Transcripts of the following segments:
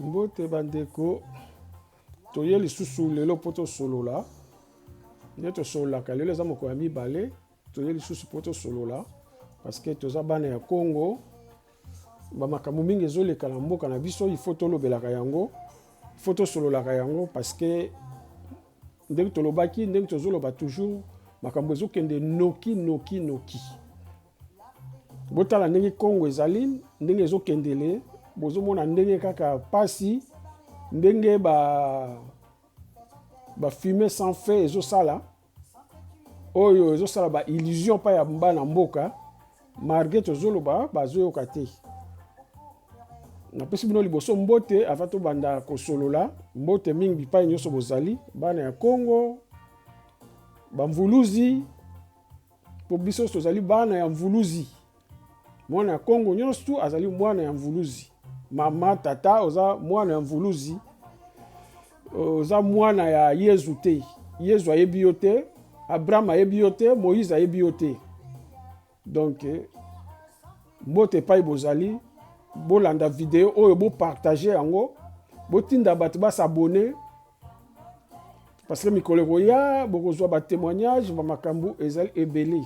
Mbote bandeko, toye lisusu lelo mpo tosolola nde tosololaka lelo, eza mokolo ya mibale toye lisusu mpo tosolola parceke toza bana ya Congo, bamakambo mingi ezoleka na mboka na biso, ifo tolobelaka yango, ifo tosololaka yango parceke ndenge tolobaki, ndenge tozoloba toujours, makambo ezokende noki noki noki. botala ndenge congo ezali ndenge ezokendele bozomona ndenge kaka pasi ndenge ba bafume sans fait ezosala oyo ezosala baillusion mpa ya bana mboka malgre tozoloba bazoyoka te napesi bino liboso mbote ava tobanda kosolola mbote mingi bipai nyonso bozali bana ya congo bamvuluzi mpo biso tozali bana ya mvuluzi mwana ya kongo nyonso tu azali mwana ya mvuluzi mama tata oza mwana ya mvuluzi oza mwana ya yezu te yezu ayebi yo te abraham ayebi yo te moïse ayebi yo te donc eh, mbote epai bozali bolanda video oyo bopartage yango botinda bato basabone parce que mikolo ekoya bokozwa ba témoignage ba makambo ezali ebele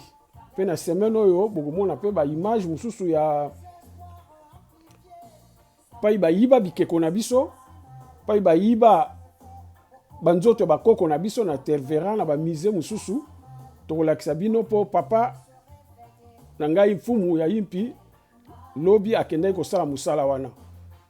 mpe na semaine oyo bokomona mpe ba image mosusu ya pai bayiba bikeko na biso pai bayiba banzoto ya bakoko na biso na tervera na bamise mosusu tokolakisa bino mpo papa na ngai mfumu ya impi lobi akendaki kosala mosala wana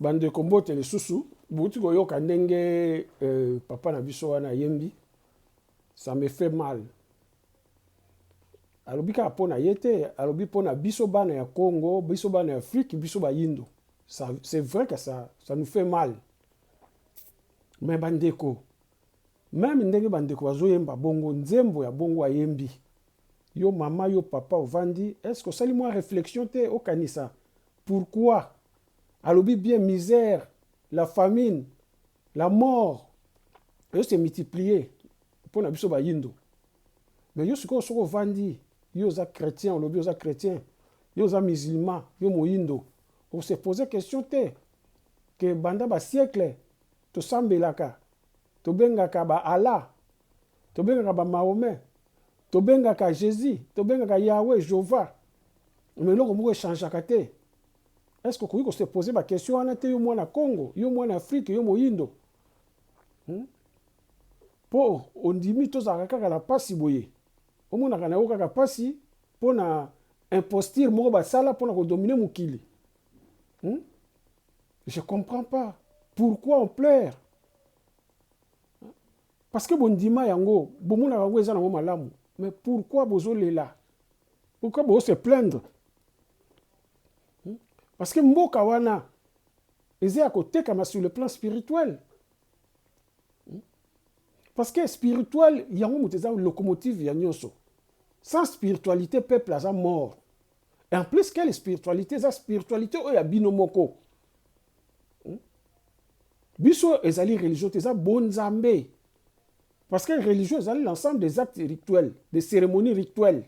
Ba ndeko mbote lisusu, bowuti koyoka ndenge papa na biso wana ayembi, ça me fait mal, alobi kaka mpo na ye te, alobi mpo na biso bana ya Congo, biso bana ya Afrique, biso bayindo, c'est vrai que ça, ça nous fait mal, mais ba ndeko, meme ndenge ba ndeko bazoyemba bongo, nzembo ya bongo ayembi, yo mama, yo papa ovandi, est-ce que osali mwa reflexion te okanisa pourquoi? Alobi bien misère, la famine, la mort ezo se multiplier mpo na biso bayindo. Mais yo sikoyo soki ovandi, yo oza chretien, olobi oza chretien, yo oza musulman, yo moyindo, o se poser question te que banda ba siècles tosambelaka, tobengaka ba Allah, tobengaka ba Mahomet, tobengaka Jesus, tobengaka Yahweh, Jehovah, mais eloko moko echangeaka te. Est ce que okoki ko se poser ba question wana te yo mwana Congo, yo mwana Afrique, yo moyindo? Hmm? Po ondimi tozalaka kaka na pasi boye. Omonaka na yo kaka pasi mpo na imposture moko basala mpo na kodomine mokili. Hmm? Je comprends pas. Pourquoi on pleure? Parce que bondima yango, bomonaka yango eza nango malamu. Mais pourquoi bozolela? Pourquoi bozo se plaindre? hmm? parce que mboka wana eza ya kotekama sur le plan spirituel hmm? parce que spirituel yango moto eza locomotive ya nyonso sans spiritualité peuple aza mort et en plus quelle spiritualité eza spiritualité oyo ya bino moko hmm? biso ezali religion te eza bonzambe Parce que religion, c'est l'ensemble des actes rituels, des cérémonies rituelles.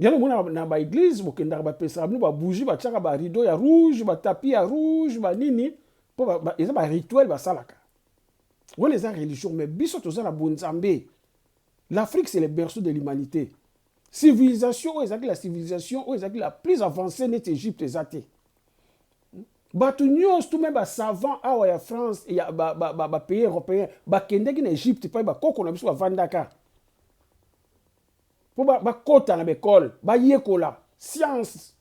Yango omona na ba eglise bokendaka bapesaka bino ba bougie batiaka ba rideau ya rouge ba tapis ya rouge ba nini mpo ba, ba, eza ba rituel basalaka wana eza religion mais biso toza na bonzambe l'afrique c'est le berceau de l'humanité civilisation oyo ezalaki la civilisation oyo ezalaki la plus avancée neti egypte eza te bato nyonso tu me basavant awa ya france ya bapays ba, ba, ba européen bakendaki na egypte mpai bakoko na biso bavandaka mpo bakota na baekole bayekola science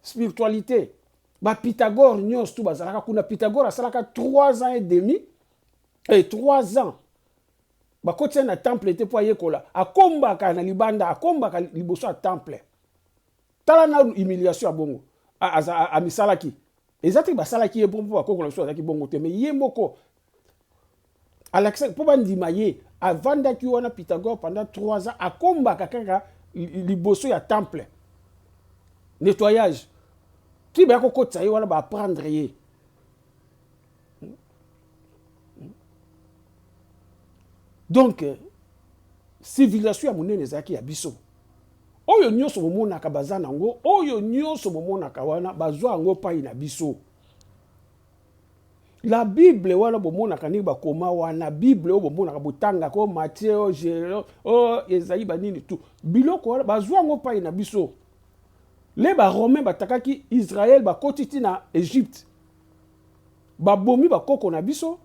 spiritualité bapythagore nyonso tu bazalaka kuna pythagore asalaka 3 ans et demi e eh, 3 ans bakotisa ye na temple te mpo ayekola akombaka na libanda akombaka liboso ya temple tala na humiliation ya bongo amisalaki eza te basalaki ye mpo bakokola biso azalaki bongo te me ye moko alakisaki mpo bandima ye avandaki wana pythagore pendant 3 ans akombaka kaka liboso ya temple nettoyage ti baya kokotisa ye wana baaprendre ye donc euh, civilisation ya monene ezalaki ya biso oyo nyonso bomonaka baza nango oyo nyonso bomonaka wana bazwa yango pai na biso La Bible wana bomonaka ndenge bakoma wana Bible oyo bomonaka botangaka oyo Matthieu oyo Jero oyo ezali banini tu biloko wana bazwa yango mpai na biso le baromain batakaki Israel bakoti ti na Egypte babomi bakoko na biso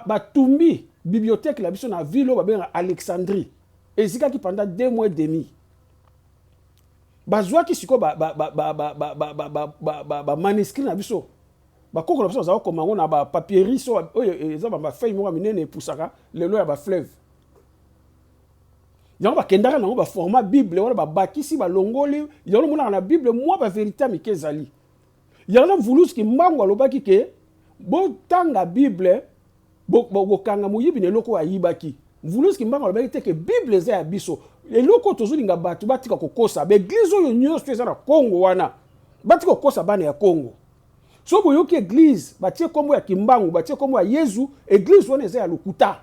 batumbi ba bibliothèque na biso na ville oyo babengaka Alexandrie ezikaki pendant deux mois et demi bazwaki sikoyo bamaniskri na biso bakoko na biso bazalaki koma yango na bapapierie so oyo e, eza bafeuille moko ya minene epusaka lelo ya bafleuve yango bakendaka na yango baformat bible wana babakisi balongoli yango omonaka na bible mwa baverité ya mike ezali Yango Mvuluzi Kimbangu alobaki ke botanga Bible bokanga moyibi na eloko oyo ayibaki. Mvuluzi Kimbangu alobaki te ke Bible eza ya biso. Eloko tozolinga bato batika kokosa ba eglise oyo nyonso eza na Congo wana batika kokosa bana ya Congo. Soki boyoki eglise batie kombo ya Kimbangu batie kombo ya Yezu eglise wana eza ya lokuta.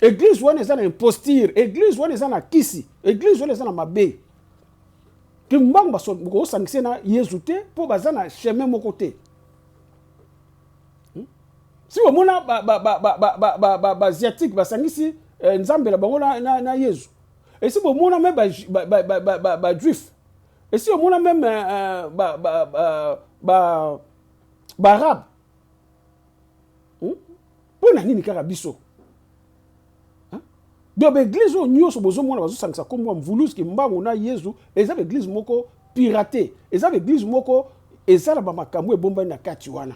Eglise wana eza na imposture, eglise wana eza na kisi, eglise wana eza na mabe. kimbangu bokosangise na yezu te mpo baza na chemin moko te hmm? si omona baasiatique basangisi eh, nzambe na bango na yezu esi bomona me bajuif esi omona meme eh, eh, baarabe mpo hmm? na nini kaka biso Hein? Donc ba église oyo nyonso bozo mona bazo sangisa kombo ya Mvulus Kimbangu na Yezu eza ba église moko pirate, eza ba église moko eza na ba makambu ebombani na kati wana.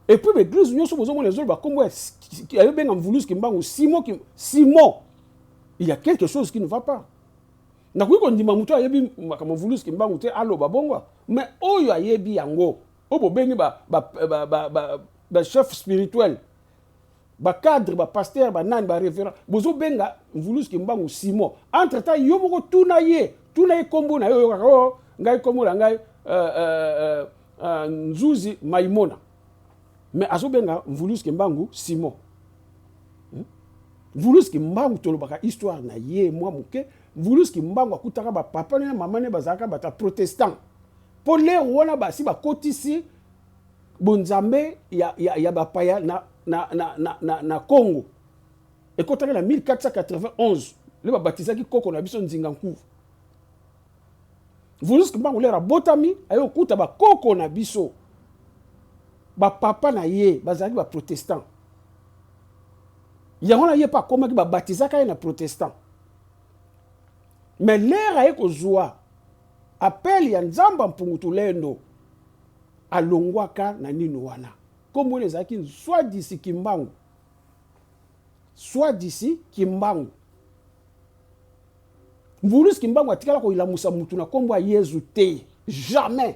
Et puis ba église nyonso bozo mona ezo loba kombo ya ayo benga Mvulus Kimbangu Simon Kim Simon. Il y a quelque chose qui ne va pas. Nakoki kondima moto ayebi makambo Mvulus Kimbangu te aloba bongo, mais oyo ayebi yango oyo bobengi ba ba ba ba, ba, ba chef spirituel ba cadre ba pasteur ba nani ba reverend bozo benga mvulus kimbangu simon entre temps yo moko tuna ye tuna ye kombo na yo oyokaka o oh, ngai kombo na ngai uh, uh, uh, uh, nzuzi maimona mais azo benga mvulus kimbangu simon hmm? mvulus kimbangu tolobaka histoire na ye mwa moke mvulus kimbangu akutaka bapapa ne mama ne bazalaka bata protestant mpo lero wana basi bakotisi Bonzambe ya, ya, ya bapaya na, na, na, na, na, na Congo ekotaki na 1491 nde babatizaki koko na biso Nzinga Nkuvu. Vulus Kimbangu lere abotami aye kokuta bakoko na biso bapapa na ye bazalaki baprotestant yango na ye mpe akomaki babatizaka ye na protestant me lere aye kozwa apele ya nzamba mpungu tulendo alongwaka na nini wana kombo wana ezalaki swadisi kimbangu swadisi kimbangu mvulusi kimbangu atikala koyilamusa mutu na kombo ya yezu te jamais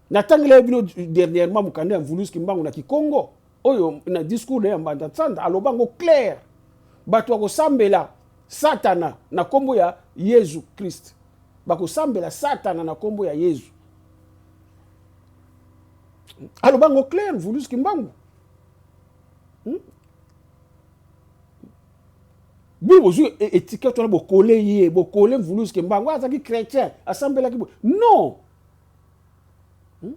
natangela ye bino dernièrement mokanda ya mvulusi kimbangu na kikongo oyo na discours na ya mbanda nsanda aloba yango claire bato ya kosambela satana na nkombo ya yezu krist bakosambela satana na nkombo ya yezu aloba yango claire vulus kimbangu hmm? bino bozwi e, etikete wana bokole ye bokole vulus kimbangu azalaki chrétien asambelaki non hmm?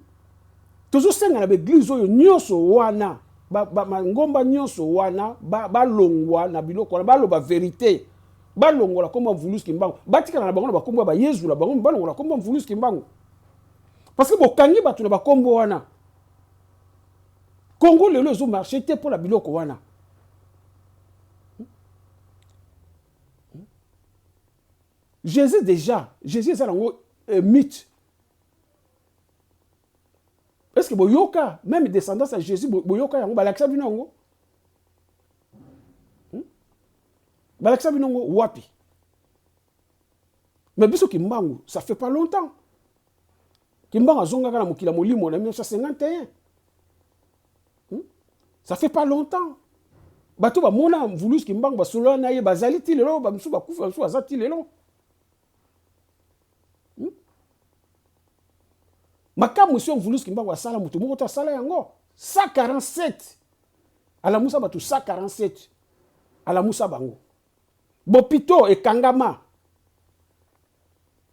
tozosenga na baeglize oyo nyonso wana bangomba nyonso wana balongwa na biloko wana baloba verite balongola nkombo ya mvulusi kimbangu batikala na bango na bakombo ya bayezu na bango balongola nkombo ya mvulusi kimbangu parce que bokangi bato na bakombo wana congo lelo ezo marche te mpo na biloko wana jésus déjà jésus eza nango euh, mythe est ce que boyoka meme descendance ya jésus boyoka yango balakisa bino yango hmm? balakisa bino yango wapi mais biso kimbangu ça fait pas longtemps kimbangu azongaka na mokili ya molimo na 1951 hmm? ça fait pas longtemps bato bamona mvulusu kimbangu basolola na ye bazali ti lelo bamosusu bakufa bamosusu baza ti lelo hmm? makambo esi ovulus kimbangu asala moto moko to asala yango 147 alamusa bato 147 alamusa bango bopito ekangama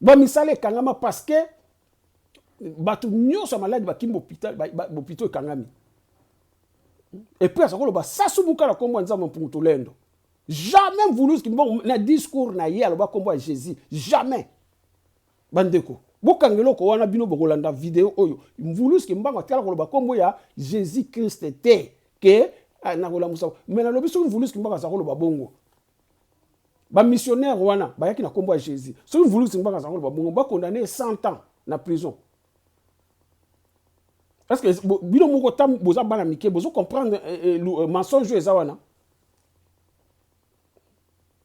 bamisala ekangama parce que bato nyonso ya maladi bakimi bopito ekangami epuis aza koloba sasumuka na nkombo ya nzambe mpungu tolendo Jamais Mvuluzi Kimbongo na discours na ye aloba kombo ya Jesus. Jamais. Bandeko, bokanga eloko wana bino bokolanda video oyo. Mvuluzi Kimbangu atikala koloba kombo ya Jesus Christ te ke ah, nakolamusa. Mais nalobi soki Mvuluzi Kimbangu aza koloba bongo. Ba missionnaires wana bayaki na kombo ya Jesus. Soki Mvuluzi Kimbangu aza koloba bongo, ba condamner 100 ans na prison. Est-ce que bino moko tam boza bana mike bozo comprendre eh, eh, eh, mensonge eza wana?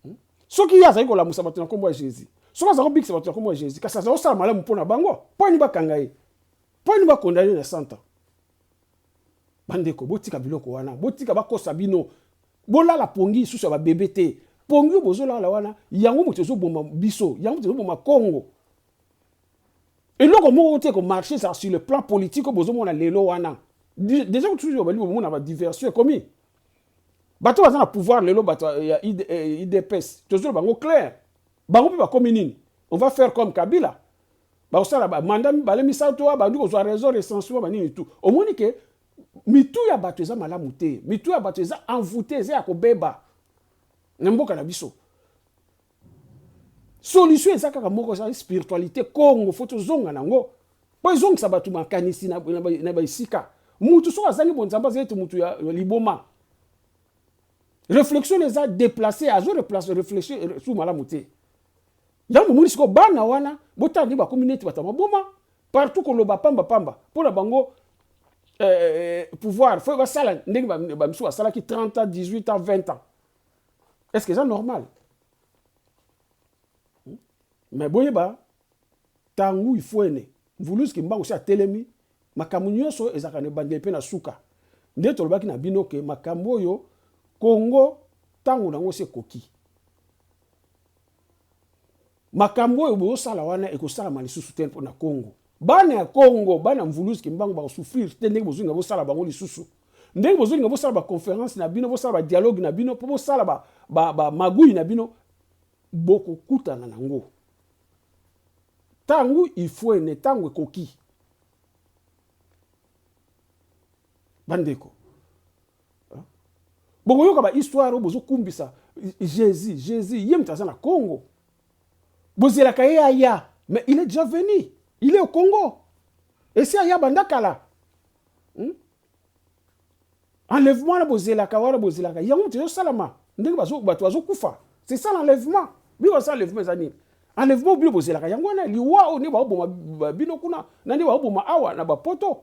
hmm? soki ye azali kolamusa bato na nkombo ya jésus soki azali kobikisa bato na nkombo ya jésus kasi azali kosala malamu mpo na bango mpo ani bakanga ye mpo ani bakondane na santa bandeko botika biloko wana botika bakosa bino bolala pongi lisusu ya babebe te pongi oyo bozolala wana yango moto ezoboma biso yango moto ezoboma kongo eloko moko te komarche ezala sur le plan politique oyo bozomona lelo wana deja kutu obali bomona badiversion ekomi bato baza na pouvoir lelo bato ya idps eh, tozoloba bango claire bango mpe bakomi nini on va faire comme kabila bakosala bamanda mibale misato wa bandi kozwa raison recensement banini tout omoni ke mitu ya bato eza malamu te mitu ya bato eza envoute eza ya kobeba na mboka na biso Solution eza kaka moko eza spiritualite Congo faut tozonga nango po ezongisa bato makanisi na, na, na baesika mutu soki azangi bonzambe aza ete mutu ya, ya liboma réflexion eza déplacer azo replace réfléchir euh, su malamu te yango omoni sikoyo bana wana botala nde bakomi neti bato ya maboma partout koloba pamba pamba mpo na bango euh, pouvoir fo basala ndenge bamisu basalaki 30 ans 18 ans 20 ans est ce que eza normal hmm? mais boyeba ntango ifuene mvuluzi kimbangu si atelemi makambo nyonso ezalaka na ebandeli mpe na suka nde tolobaki na bino ke makambo oyo kongo ntango na yango se ekoki Makambo oyo bozo sala wana eko salama lisusu te pona Congo. Bana ya Congo, bana mvuluzi kimbangu bako souffrir te ndenge bozo linga bo sala bango lisusu. Ndenge bozo linga bo sala ba conference na bino, bo sala ba dialogue na bino, po bo sala ba ba ba magouille na bino, boko kutana nango. Tangu ifuene, tangu ekoki. bandeko bokoyoka ba histoire oyo bozokumbisa jésus jésus ye moto aza na congo bozelaka ye aya mais il est déjà venu il est au congo esi aya banda kala hmm? enlèvement wana bozelaka wana bozelaka yango moto ezosalama ndenge bato bazokufa c'est ça l'enlèvement bino basala enlèvement eza nini enlèvement bino bozelaka yango wana liwa oyo nde baoboma bino kuna na nde baoboma awa na bapoto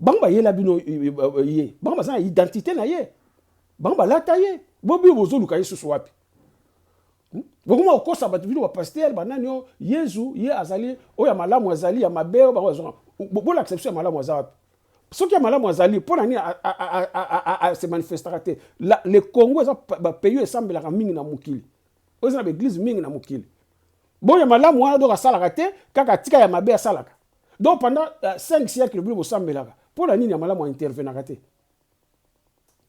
bango bayela bino ye bango baza na identité na ye bango balata ye bobio bozoluka ye susu wapi hmm? bokoma kokosa bato bino bapaster banani oyo yezu ye azali oyo ya malamu azali ya mabe oyo bango bazonga bolakisa biso ya malamu aza wapi soki ya malamu azali mpo na nini ase manifestaka te le congo eza bapays oyo esambelaka mingi na mokili oyo eza na baeglize mingi na mokili boyo ya malamu wana donk asalaka te kaka atika ya mabe asalaka Donc pendant euh, 5 siècles bino bosambelaka mpo na nini ya malamu aintervenaka te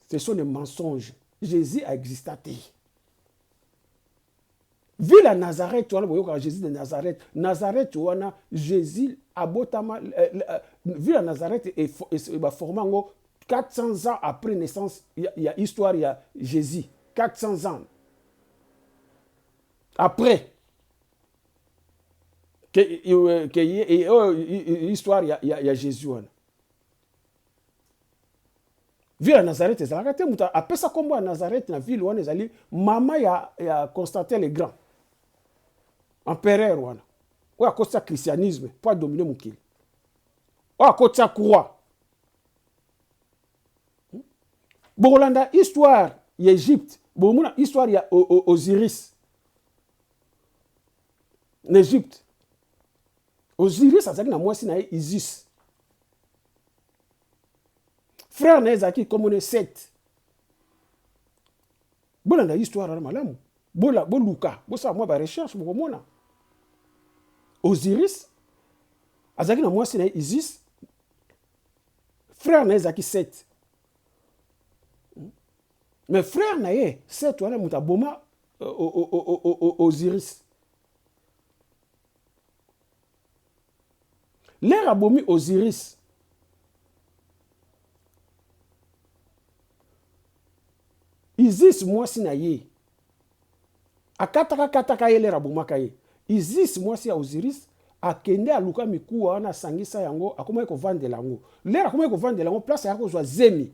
ce sont des mensonges jésus aexista te ville ya nazareth wana boyokaka jésus de nazareth nazareth wana jésus abotama euh, euh, ville ya nazareth baforma yango 400 ans après naissance ya, ya histoire ya jésus 400 ans après ke, ke oyo histoire ya, ya, ya jésus wana ville ya nazareth ezalaka te moto apesa nkombo ya nazareth na ville wana ezali mama ya, ya constantin le grand empereur wana oyo akotisa christianisme mpo adomine mokili oyo akotisa croix hmm? bokolanda histoire ya egypte bokomona histoire ya osiris na egypte osiris azalaki na mwasi na ye isis frère na ye ezalaki nkombo na sete bolanda histoire wana malamu boluka bosala mwa barecherche bokomona osiris azalaki na mwasi na ye isis frère na ye ezalaki sete mais frère na ye sete wana moto aboma Osiris. Lere abomi Osiris. Isis mwasi na ye akataka kataka ye lere abomaka ye. Isis mwasi ya Osiris akende aluka mikuwa wana asangisa yango akomaki kovandela yango. Lere akomaki kovandela yango place ayaki kozwa zemi.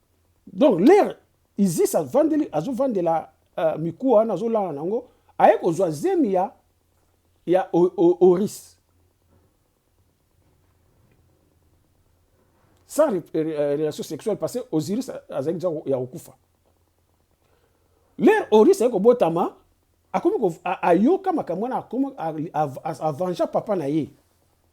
Donc l'air Isis avandeli azovandela uh, mikuwa wana azolala nango aye kozwa zemi ya ya Oris sans re, re, euh, relation sexuelle parce que Osiris azali deja ya kokufa lere Oris aye kobotama akomi ayoka makambo wana avanja papa na ye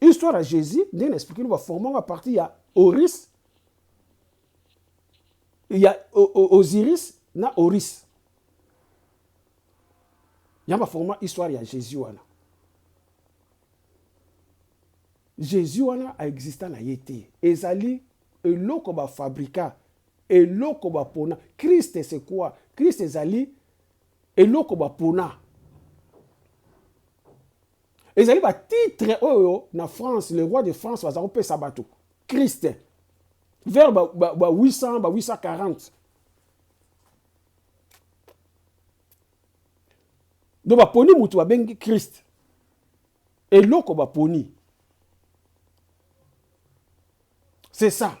Histoire ya Jesus ndenge na expliquer no ba former à partir ya Oris ya Osiris na Oris. Ya ba former histoire ya Jesus wana. Jesus wana a exista na ye te. Ezali eloko ba fabrika eloko ba pona Christ c'est quoi? Christ ezali eloko ba pona ezali ba titre oyo na France le roi de France baza kopesa bato Christ vers ba, ba, ba 800 ba 840 donc baponi motu babengi Christ eloko baponi c'est ça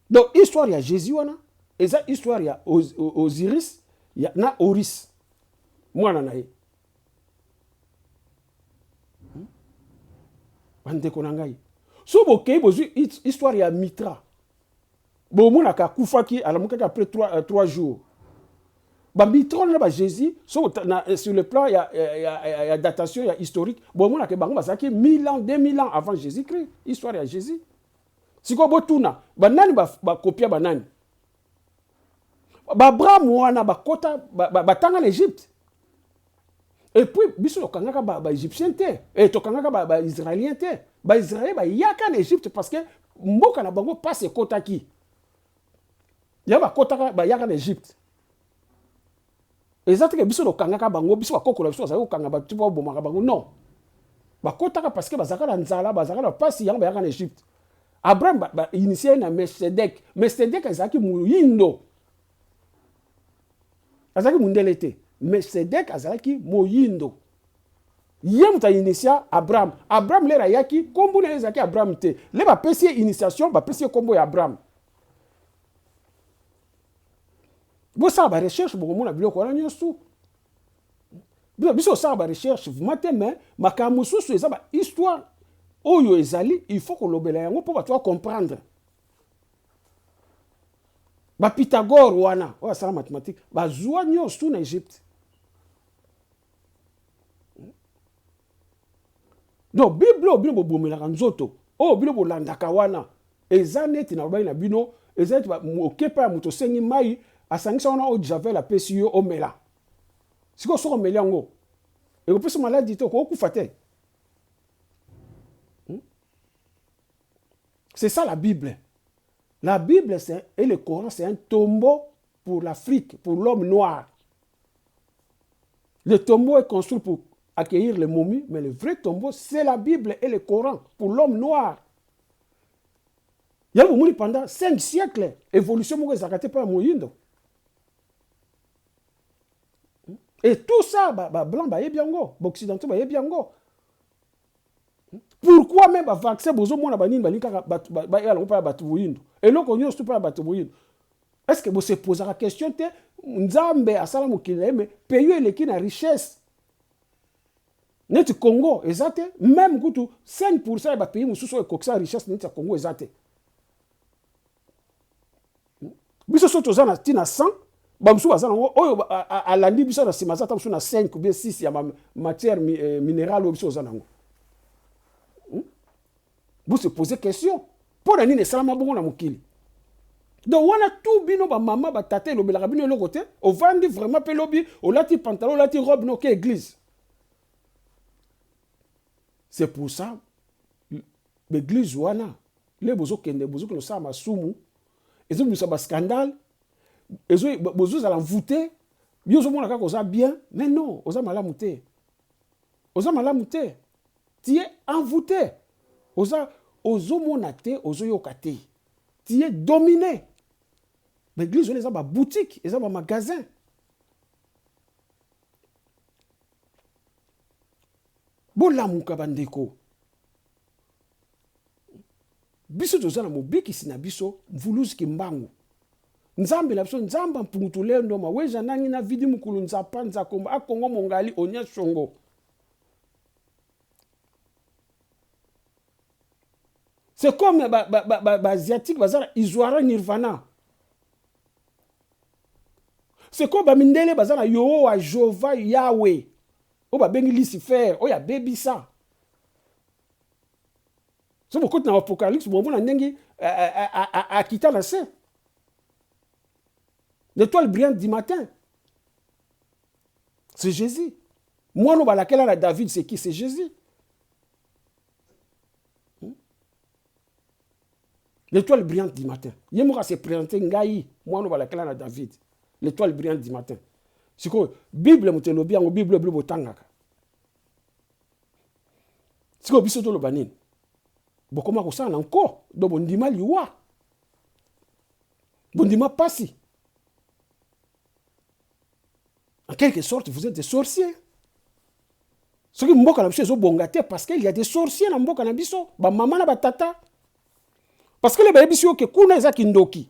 donc histoire ya Jésus wana eza histoire ya Osiris ya, na Oris mwana na ye hmm? bandeko na ngai so bokei bozwi histoire ya mitra bomonaka akufaki alamukaki après 3, 3 euh, jours bamitra wana na bajésus so na, euh, sur le plan ya, ya, ya, ya datation ya historique bomonaka bango bazalaki 1000 ans 2000 ans avant jésus christ histoire ya jésus sikoyo botuna banani bakopia ba banani Baabraham wana bakota batanga na Egypte. Et puis biso tokangaka ba, ba Egyptiens te, et tokangaka ba, ba Israéliens te. Ba Israéliens bayaka na Egypte parce que mboka na bango pasi ekotaki. Ya bakotaka bayaka na Egypte. eza teke biso tokangaka bango biso bakoko na biso bazali kokanga bato ti mpo babomaka bango non bakotaka parce que bazalaka na nzala bazalaka na mpasi yango bayaka na egypte abraham bainitie ba, ba, na mesedek mesedek ezalaki moyindo azalaki mondele te mesedek azalaki moyindo ye moto ainitia abraham abraham lere ayaki nkombo na ye ezalaki abraham te le bapesi ye initiation bapesi ye nkombo ya abraham bosala ba recherche bokomona biloko wana nyonso tu biso biso osala ba recherche vrima te mais makambo mosusu eza ba histoire oyo ezali il faut kolobela yango mpo bato bacomprendre bapythagore wana oyo asala mathématique bazwa nyonso tu na egypte Donc bible oyo bino bobomelaka nzoto oyo bino bolandaka wana eza neti nalobaki na bino eza neti oke epai ya moto osengi mai asangisa wana oyo javel apesi yo omela sikoyo soki omeli yango ekopesa maladi te okokufa te hmm? c'est ça la bible la bible c'est et le coran c'est un tombeau pour l'Afrique, pour l'homme noir. Le tombeau est construit pour accueillir les momies, mais le vrai tombeau, c'est la Bible et le Coran pour l'homme noir. yango omoni pendant 5 siècle évolution moko ezalaka te mpo ya moyindo et tout ça bablanc ba bayebi yango baoccidentaux bayebi yango pourquoi même ba vaccin bozo mona ba nini ba linka ba ba ya lopa ba tu boyindo eloko nyo stupa ba tu boyindo est ce que bo se poser la question te nzambe asala mokili na mais pays eleki na richesse neti Congo eza te même kutu 5% ya ba pays mosusu oyo ekokisa richesse neti ya Congo eza te biso so toza na tina 100 bamosusu baza nango oyo alandi biso na nsima aza ta mosusu na 5 ou bien 6 ya matière euh, minérale oyo biso oza nango hmm? vous se posez question mpo na nini esalama bongo na mokili donc wana tu bino bamama batata elobelaka bino eloko te ovandi vraiment mpe lobi olati pantalon olati robe noke église c'est pour ça baeglise wana Lelo bozo kende bozo kende kosala masumu ezo bimisa ba scandale ezo bozo zala envoute yo ozo mona kaka oza bien mais non oza malamu te oza malamu te tu es envoute oza ozo mona te ozo yoka te tu es domine ba église wana eza ba boutique eza ba magasin bolamuka bandeko biso toza na mobikisi na biso mvuluzi kimbangu nzambe na biso nzamba mpungutu leo ndoma weza nangi na vidi mukulu nzapa nzakomba akongo mongali onya songo c'est comme baasiatique ba, ba, ba, baza na isoara nirvana c'est comme bamindele baza na yohowa jova yawe oyo babengi lucifer oyo abebisa so bokoti na apocalypse bomona ndenge eh, eh, eh, akita na se l'étoile brillante du matin c'est jésus mwana oyo balakela na david c'est qui c'est jésus hmm? l'étoile brillante du matin ye moko ase présente ngai mwana oyo balakela na david l'étoile brillante du matin sikoyo bible moto elobi yango bible blo botangaka sikoyo biso toloba nini bokoma kosala na nko do bondima liwa bondima mpasi en quelque sorte vous êtes des sorciers soki mboka na biso ezobonga te parce qu'il y a des sorciers na mboka na biso bamama na batata parce que le bayebisi yo ke kuna eza kindoki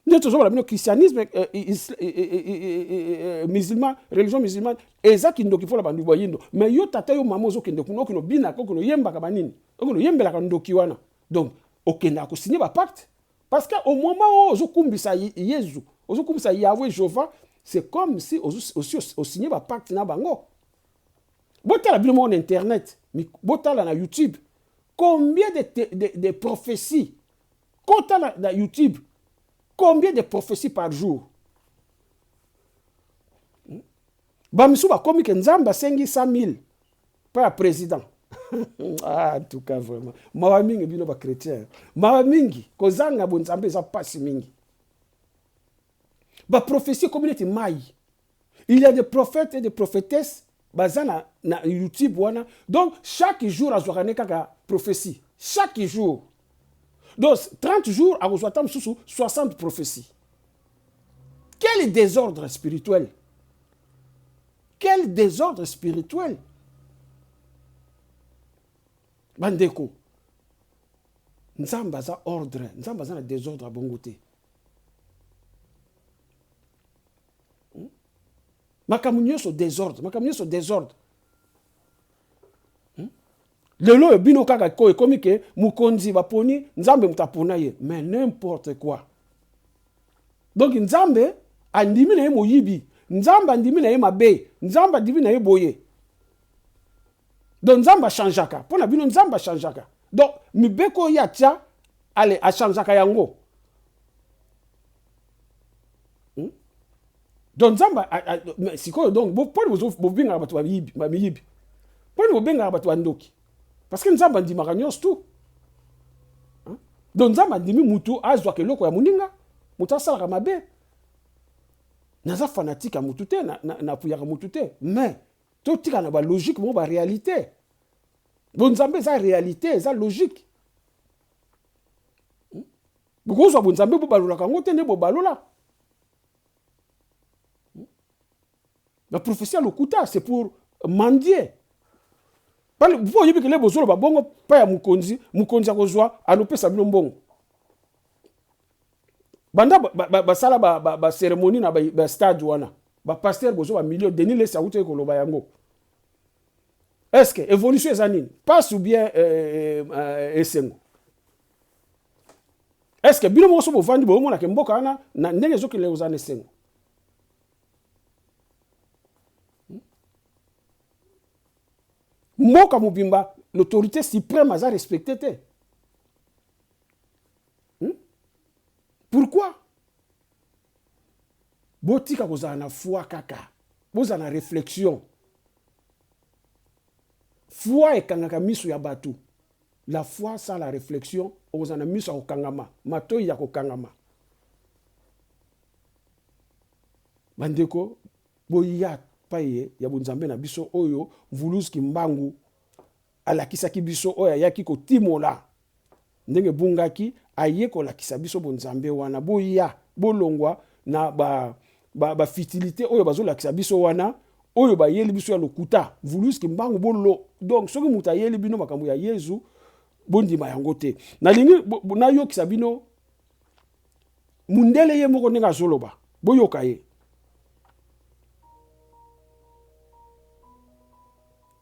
nde tozoloba bino christianisme eh, eh, eh, musulman religion musulmane eza kindoki mpo na bandu bayindo me yo tata yo mama ozokende kuna okino binaka okino oyembaka banini okino oyembelaka ndoki wana donc okendaka kosigne bapacte parce que au moment oyo ozokumbisa yezu ozokumbisa yahwe jehova c'est comme si osi osigne bapacte na bango botala bino moko na internet botala na youtube combien de, de, de, de prophéties Kota na, na YouTube. Combien de propheties par jour? Hmm? Bamisu bakomi ke Nzambe asengi 100 000 mpo ya président. ah, en tout cas vraiment mawa mingi bino bachrétien mawa mingi kozanga bonzambe eza mpasi mingi baprophesie ekomi neti mai Il y a des prophètes et des prophétesses baza na, na YouTube wana. Donc chaque jour azwaka ne kaka prophétie. Chaque jour. Donc 30 jours akozwa ata mosusu 60 prophétie. Quel désordre spirituel Quel désordre spirituel Bandeko, Nzambe aza ordre, Nzambe aza na désordre abongo te. hmm? makambo nyonso desordre makambo nyonso desordre hmm? lelo oyo bino kaka ko ekomi ke mokonzi baponi nzambe moto apona ye mais n'importe quoi donc nzambe andimi na ye moyibi nzambe andimi na ye mabe nzambe andimi na ye boye donc nzambe achangeaka mpo na bino nzambe achangeaka donc mibeko oyo ye atya ale achangeaka yango hmm? donc nzambe sikoyo donc mponi bobengaka bato bamiyibi mponi bobengaka bato bandoki parce que nzambe andimaka nyonso tu hmm? donc nzambe andimi motu azwaka eloko ya moninga moto asalaka mabe naza fanatike ya motu te napuyaka motu te mais totika na balogique moko baréalité bonzambe eza réalité eza logique bokozwa bonzambe bobalolaka yango te nde bobalola la prophétie ya lokuta c'est pour mandie mpo oyebi kele bozoloba bongo mpo ya mokonzi mokonzi akozwa alopesa bino mbongo banda basala baceremonie na bastade wana bapaster bozo bamilio denis lesi akutaki koloba yango est ce que évolution eza nini passe ou bien euh, euh, euh, esengo est ce que bino moko so bovandi boyomonaka mboka wana na ndenge ezokende kozala na esengo hmm? mboka mobimba l'autorité suprême aza respecte te hmm? pourquoi botika kozala na foi kaka bozala na réflexion foi ekangaka miso ya bato La foi sans la reflexion, okozala na miso ya kokangama, matoyi ya kokangama. Bandeko, boya paye ya bonzambe na biso oyo Mvuluz Kimbangu alakisaki biso, oyo ayaki kotimola ndenge ebungaki, aye kolakisa biso bonzambe wana. Boya, bolongwa na ba ba, ba futilité oyo bazolakisa biso wana oyo bayeli biso ya lokuta vulus kimbangu bolo donc soki moto ayeli bino makambo ya yezu bondima yango te nalingi nayokisa bino mundele ye moko ndenge azoloba boyoka ye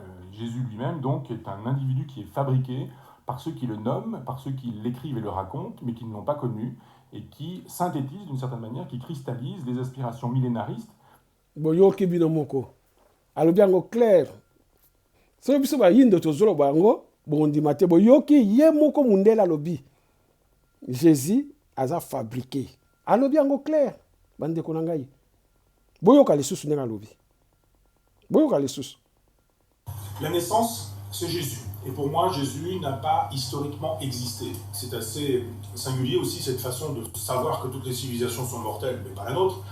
Euh, Jésus lui-même, donc, est un individu qui est fabriqué par ceux qui le nomment, par ceux qui l'écrivent et le racontent, mais qui ne l'ont pas connu, et qui synthétise d'une certaine manière, qui cristallise les aspirations millénaristes. boyoki bino moko alobi yango claire soki biso bayindo tozoloba yango bondima te boyoki ye moko mundele alobi jésus aza fabriqué alobi yango claire bandeko na ngai boyoka lisusu ndenge alobi Boyoka lisusu. La naissance c'est Jesus et pour moi Jesus n'a pas historiquement existe. C'est assez singulier aussi cette façon de savoir que toutes les civilisations sont mortelles mais pas la nôtre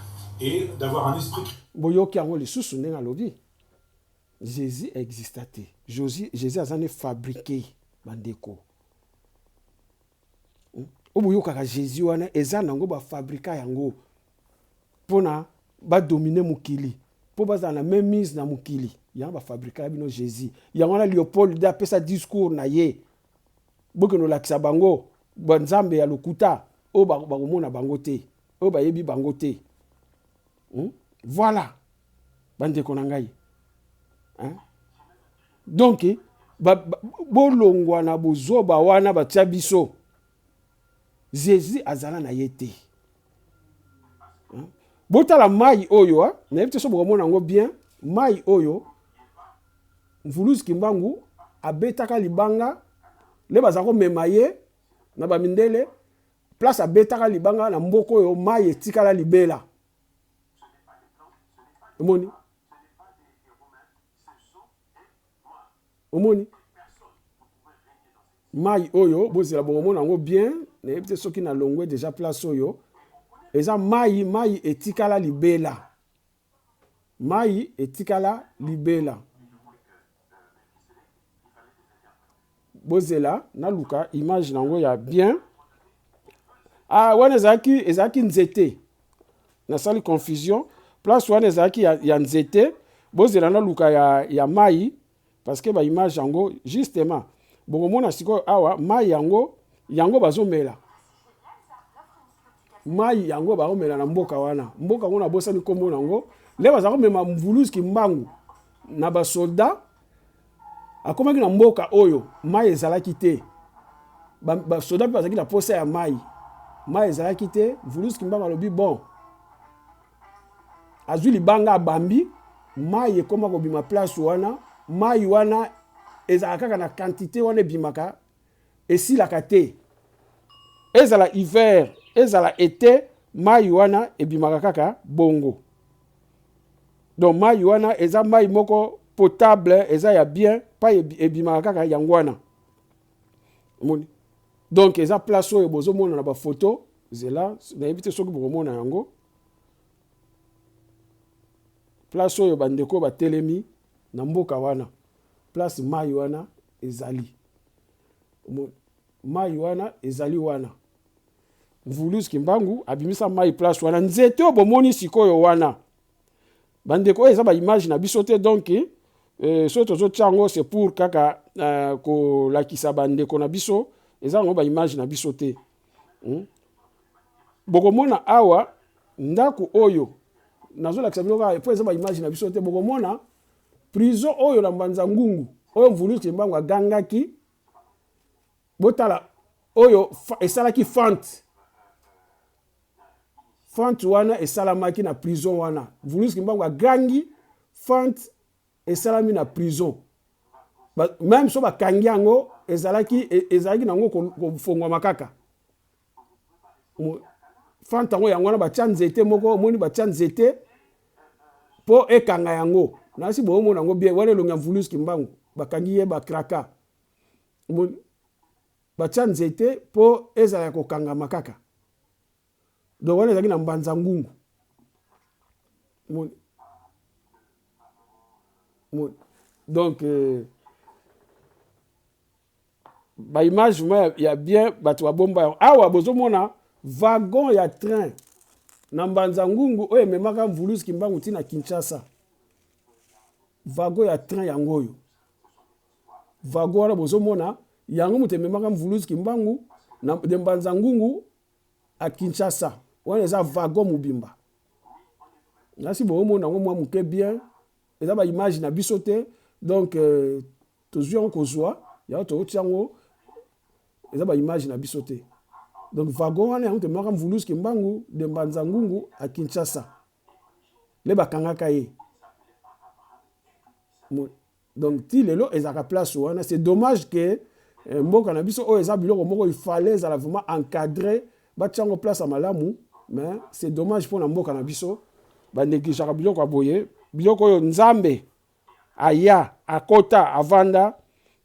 et d'avoir un esprit. Boyoki yango lisusu ndenge alobi. Jésus exista te. Jésus, Jésus aza ne fabriqué bandeko. Hmm? Oboyokaka Jésus wana eza nango ba fabrika yango. pona ba domine mokili po bazala na main mise na mokili yango ba fabrikaka bino Jesus yango wana Leopold de apesa discours na ye bokende olakisa bango ba nzambe ya lokuta oyo bakomona bango te oyo bayebi bango te hmm? voilà bandeko na ngai hein? donc ba, ba, bolongwa na bozoba wana batya biso Jesus azala na ye te hmm? botala mai oyo ha? nayebi te so bokomona yango bien mai oyo mvuluzi kimbangu abetaka libanga nde baza komema ye na bamindele place abetaka libanga na mboka oyo mai etikala libela omoni omoni Mayi oyo bozela bokomona yango bien, nayebi te soki na longwe deja place oyo eza mayi, mayi etikala libela, mayi etikala libela. Bozela naluka image na yango ya bien. Ah, wana ezalaki ezalaki nzete, nasali confusion. Place wana ezalaki ya, ya nzete. Bozela naluka ya, ya mayi parce que ba image yango justement bokomona sikoyo awa mai yango yango bazomela mai yango bakomela na mboka wana mboka yango nabosani nkombo na yango nde baza komema mvuluzi kimbangu na basoldat akomaki na mboka oyo mai ezalaki te basoda mpe bazalaki na mposa ya mai mai ezalaki te mvuluzi kimbangu alobi bon azui libanga abambi mayi ekoma kobima place wana mayi wana ezalaka kaka na quantité wana ebimaka esilaka te ezala hiver ezala ete mayi wana ebimaka kaka bongo donc mayi wana eza mayi moko potable eza ya bien pa ebimaka kaka yango wana omoni donc eza place oyo bozomona na bafoto zela nayebi te soki bokomona yango place oyo bandeko batelemi na mboka wana place mai wana ezali mai wana ezali wana mvulus kimbangu abimisa mai place wana nzete oyo bomoni sikoyo wana Bandeko oyo eza ba image na biso te donc eh, soki tozotia yango c'est pour kaka eh, kolakisa bandeko na biso eza yango ba image na biso te hmm? bokomona awa ndako oyo nazolakisa bino kaka po eza ba image na biso te bokomona prison oyo na mbanza ngungu oyo mvuluti mbangu agangaki botala oyo esalaki fant fant wana esalamaki na prison wana vulus kimbangu agangi fant esalami na prison ba, meme so bakangi yango ezalaki e, ezalaki nango kofongwama kaka fant yango yango wana batya nzete moko omoni batya nzete mpo ekanga yango nasi boomona yango bien wana elongi ya vulus kimbangu bakangi ye bakraka Omoni? Batia nzete po ezala ya kokangama kaka. Donc wana ezalaki na mbanza ngungu. Omoni? Omoni? Donc euh, ba image vraiment ya, ya bien bato babomba yango. Awa bozomona wagon ya train na mbanza ngungu oyo ememaka mvuluzi kimbangu ntina kinshasa vago ya train yango oyo Vagora bozo mona yango moto ememaka mvuluzi kimbangu na de mbanza ngungu à Kinshasa wana eza vago mobimba nasi bozo mona yango mwa moke bien eza ba image na biso te donc euh, tozwi yango kozwa yango tokotia yango eza ba image na biso te donc vago wana yango tememaka mvuluzi kimbangu de mbanza ngungu à Kinshasa nde bakangaka ye Donc ti lelo ezalaka place wana c'est dommage que eh, mboka na biso oyo eza biloko moko il fallait ezala vraiment encadré batia yango place ya malamu mais c'est dommage mpo na mboka na biso baneglijaka biloko ya boye biloko oyo nzambe aya akota avanda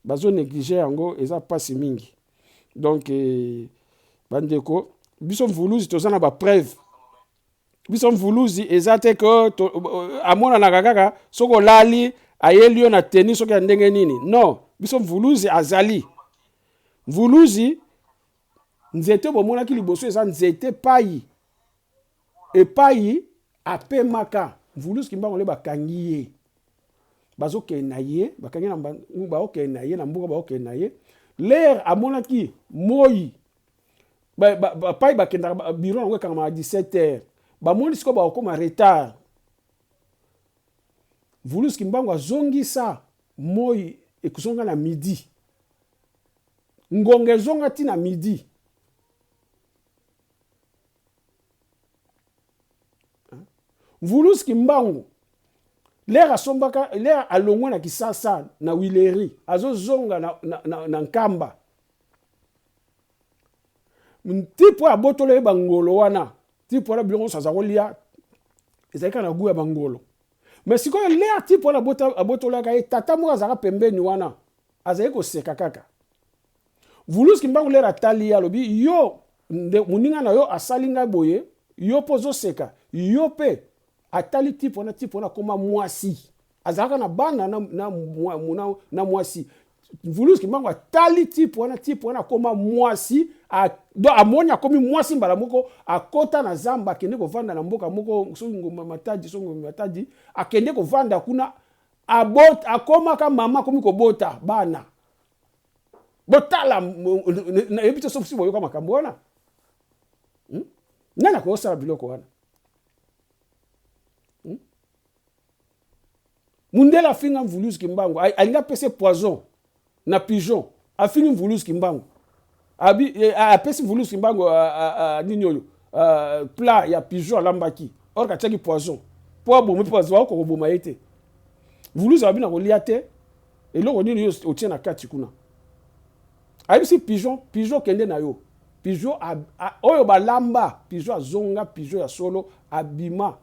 bazo neglige yango eza mpasi mingi donc eh, bandeko biso mvuluzi toza na bapreuve biso mvuluzi eza te ke amonanaka kaka soki olali ayeli yo na teni soki ya ndenge nini non biso mvuluzi azali mvuluzi nzete bomonaki liboso eza nzete pai epai apemaka mvuluzi kimbangu le bakangi ye bazokende na ye bakangi na baokende na ye na mboka baokende na ye lere amonaki moi pai bakendaka biro yango ekangamaka 17 heures bamoni sikoyo bakokoma retard vulus kimbangu azongisa moi ekozonga na midi ngonga ezonga ti na midi vulus kimbangu lere asombaka lere alongwe na kisasa na wileri azozonga na, na, na, na nkamba ntipo ya botolo ye bangolo wana tipo wana biloko nyonso aza kolia ezali kaka na gu ya bangolo me sikoyo ler tipo wana abotolaka ye tata moko azalaka pembeni wana azali koseka kaka vuluski mbangu ler atali ye alobi yo moninga na yo asali ngai boye yo mpo ozoseka yo mpe atali tipo wana tipo wana akoma mwasi azalaka na bana na, na, na, na mwasi Vulus Kimbangu atali type wana type wana akoma mwasi amoni akomi mwasi mbala moko akota na zamba akende kovanda na mboka moko soki ngomba matadi soki ngomba matadi akende kovanda kuna abota akomaka mama akomi kobota bana botala nayebi te soki boyoka makambo wana hmm? nani akosala biloko wana mundele afinga mvuluzi kimbangu alingi apese poison na pigeon afingi mvuluzi kimbangu abi eh, apesi mvuluzi kimbangu nini oyo plat ya pigeon alambaki or katiaki poison mpo abomi mpo bazwa oko koboma ye te mvuluzi abi na kolia te eloko nini yo otie na kati kuna ayebisi pigeon pigeon kende na yo pigeon oyo balamba pigeon azonga pigeon ya solo abima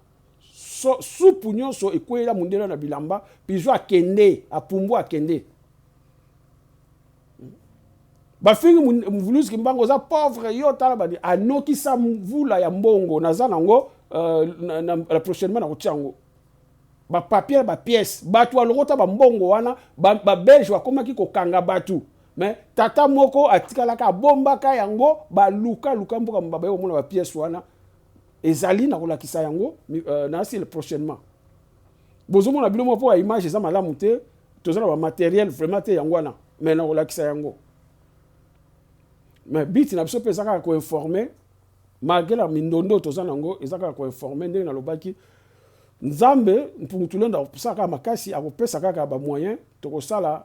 so, supu nyonso ekweyela mondele na bilamba pizo akende apumbu akende bafingi mvuluzi kimbangu oza pauvre yo tala bani anokisa mvula ya mbongo naza nango uh, na, na, na prochainement nakotia yango bapapier na bapièce bato balokota bambongo wana babelge ba bakomaki kokanga bato me tata moko atikalaka abombaka yango balukaluka mboka baye komona bapièce wana Ezali na kolakisa yango euh, na asile prochainement. Bozomona bino mwa mpo ya image eza malamu te, toza na ba materiel vraiment te yango wana, mais na kolakisa yango. Mais biti na biso mpe eza kaka koinforme malgré la mindondo toza na yango eza kaka koinforme ndenge nalobaki nzambe mpungu tulendo akosala kaka makasi akopesa kaka bamoyen tokosala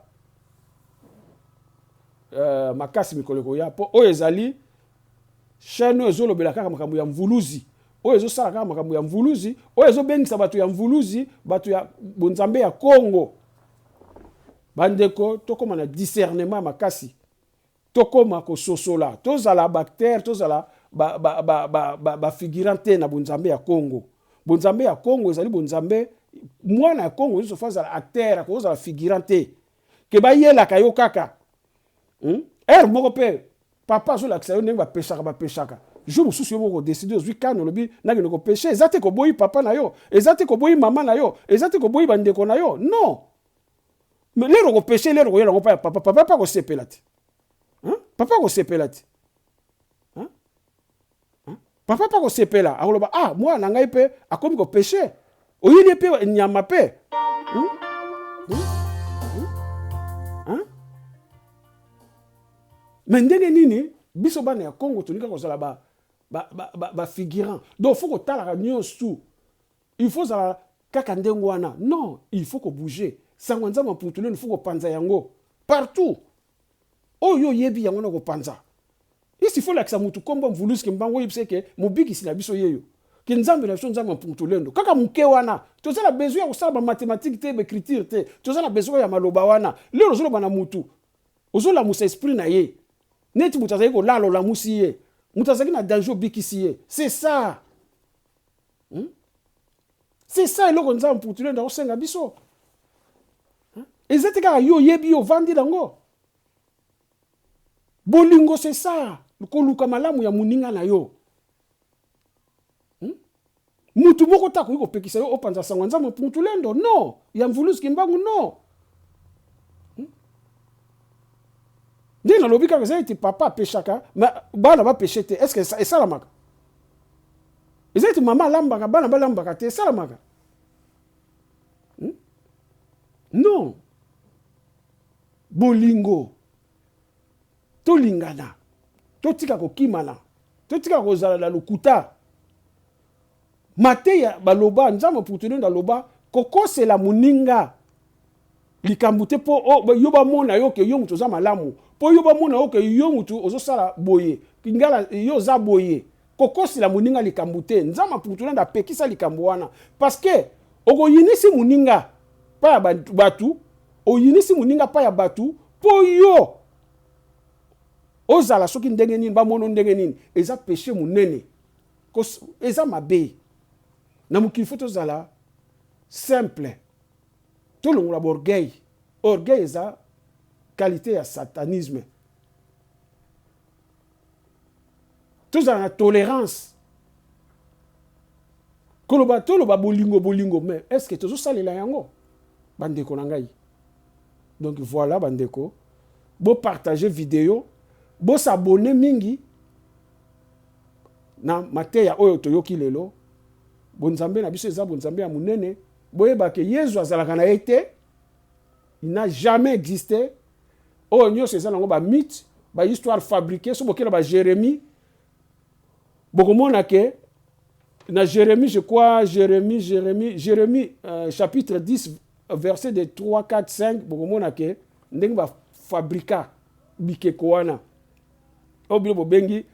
uh, makasi mikolo ekoya mpo oyo ezali Chaine oyo ezo lobela kaka makambo ya mvuluzi oyo ezo sala kaka makambo ya mvuluzi oyo ezo bengisa bato ya mvuluzi bato ya bonzambe ya Congo bandeko tokoma na discernement makasi tokoma kososola tozala bacteur tozala ba, ba, ba, ba, ba, ba figurant te na bonzambe ya Congo bonzambe ya Congo ezali bonzambe mwana ya Congo nyonso fo azala acteur akozala figurant te ke bayelaka yo kaka hmm? heure moko mpe papa azolakisa yo ndenge bapesaka bapesaka jour mosusu yo moko odeside ozwi kani olobi nakende kopeshe eza te koboyi papa na yo eza te koboyi mama na yo eza te koboyi bandeko na yo non me lere okopeshe lere okoyela yango mpa ya papa papa mpe akosepela te papa akosepela te papa mpe akosepela akoloba ah mwana na ngai mpe akomi kopeshe oyini mpe nyama mpe hmm? hmm? hmm? me ndenge nini biso bana ya congo tolinga kozala bafigurant ba, ba, ba donc fo kotalaka nyonso Il faut ozala Kaka ndenge wana non il faut ko bouger sango ya nzambe ya mputu lelo il faut ko panza yango partout oyo yo oyebi yango na ko panza isi faut lakisa mutu kombo mvulusi kimbangu oyebisa ye ke mobikisi na biso yeyo ke nzambe na biso nzambe ya mputu lendo kaka muke wana toza na besoin ya kosala ba mathématique te ba écriture te toza na besoin ya maloba wana lelo ozoloba na mutu ozolamusa esprit na ye neti mutu azali kolala olamusi ye mutu azalaki na danger obikisi ye c'est ça hmm? c'est ça eloko nzambe putule nda kosenga biso hmm? eza te kaka yo oyebi yo ovandi nango bolingo c'est ça koluka malamu ya moninga na yo hmm? mutu moko te akoki kopekisa yo opanza sango ya nzambe putulendo no ya mvuluzi kimbangu no ndenge nalobi kaka eza ete papa apeshaka bana bapeshe te estce esalamaka eza ete mama alambaka bana balambaka te esalamaka hmm? non bolingo tolingana totika kokimana totika kozala na lokuta mateya baloba nzambe putunende aloba kokosela moninga likambo te po oh, yo bamona yo ke yo mutu oza malamu po yo bamona yo ke yo mutu ozosala boye ngala yo oza boye kokosela moninga likambo te nzambe apukutunanda apekisa likambo wana parceke okoyinisi moninga pa ya bato oyinisi moninga pa ya bato po yo ozala soki ndenge nini bamono ndenge nini eza peshe monene eza mabe na mokili fo tozala simple Tolongola b'orgueil, orgueil eza qualite ya satanisme. Tozala na tolerance, koloba toloba bolingo bolingo mais est ce que tozo salela yango ba ndeko na ngai? Donc voila ba ndeko, bo partager video, bo s'abonner mingi na mateya oyo toyoki lelo. Bonzambe na biso eza bonzambe ya monene. Boyeba que Yezu azalaka na ye te, il n'a jamais existe. Oyo nionso eza nango ba mythe, ba histoire fabriquer. Soki bokela ba Jeremie, bokomona que na Jeremie, je crois Jeremie, Jeremie, Jeremie euh, chapitre 10 verset de 3, 4, 5, bokomona que ndenge ba fabrika bikeko wana oyo bino bobengi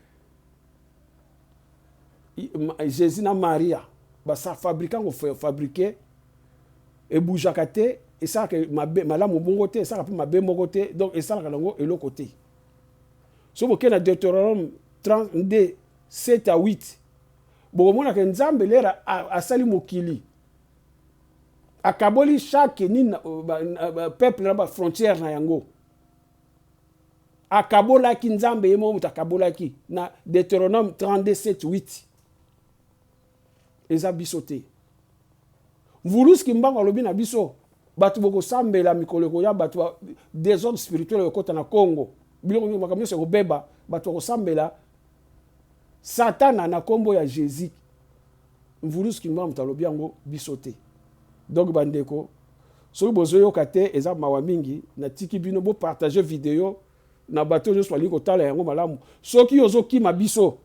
jesus na maria basa fabrika ngo fabrike ebougeaka te esalaka mabe malamu bongo te esalaka mpe mabe moko te donc esalaka nango eloko te so bokei na deuteronome 32 7 à 8 bokomonaka nzambe lera asali mokili akaboli chaque nini euh, peuple na bafrontière na yango Akabolaki, Nzambe ye moko moto akabolaki na Deuteronome 32, 7, 8. Eza biso te. Mvuluzi Kimbangu alobi na biso, bato bokosambela mikolo ekoya, bato ba desordre spirituel ekokota na Congo, biloko nyonso, makambo nyonso ekobeba, bato bakosambela Satana na nkombo ya Jesus. Mvuluzi kimbangu mutu alobi yango biso te donc ba ndeko soki bozo yoka te eza mawa mingi na tiki bino bo partage video na bato nionso balingi kotala yango malamu soki ozo kima biso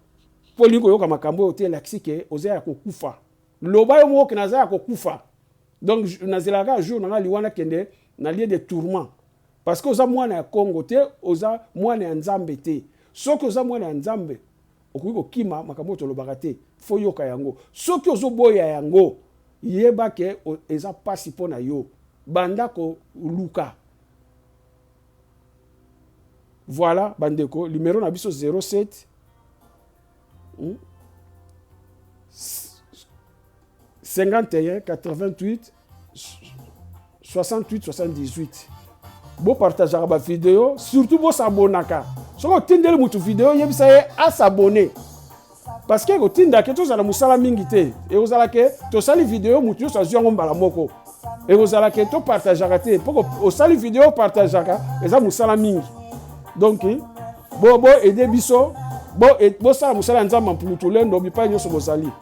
po olingi koyoka makambo oyo te elakisi ke oza ya kokufa loba yo moko ke naza ya kokufa donc nazelaka kaka jour na nga liwa nakende na lieu de tourment parce que oza mwana ya Congo te oza mwana ya Nzambe te soki oza mwana ya Nzambe Okoki kokima makambo oyo tolobaka te fo oyoka yango. Soki ozo boya yango yeba ke eza pasi po na yo. Banda ko luka. Voila ba ndeko numero na biso 07 hum 51 88 68 78 bopartageaka bavideo surtout bosabonaka soki otindeli motu video yebisa ye asabone parce que ekotinda ke tozala mosala mingi te ekozala ke tosali video motu nyonso azwi yango mbala moko ekozala ke topartageaka te mpo osali video opartageaka eza mosala mingi donc bo bo aide biso bosala bo mosala ya nzambe mpulutulendo bipai nyonso bozali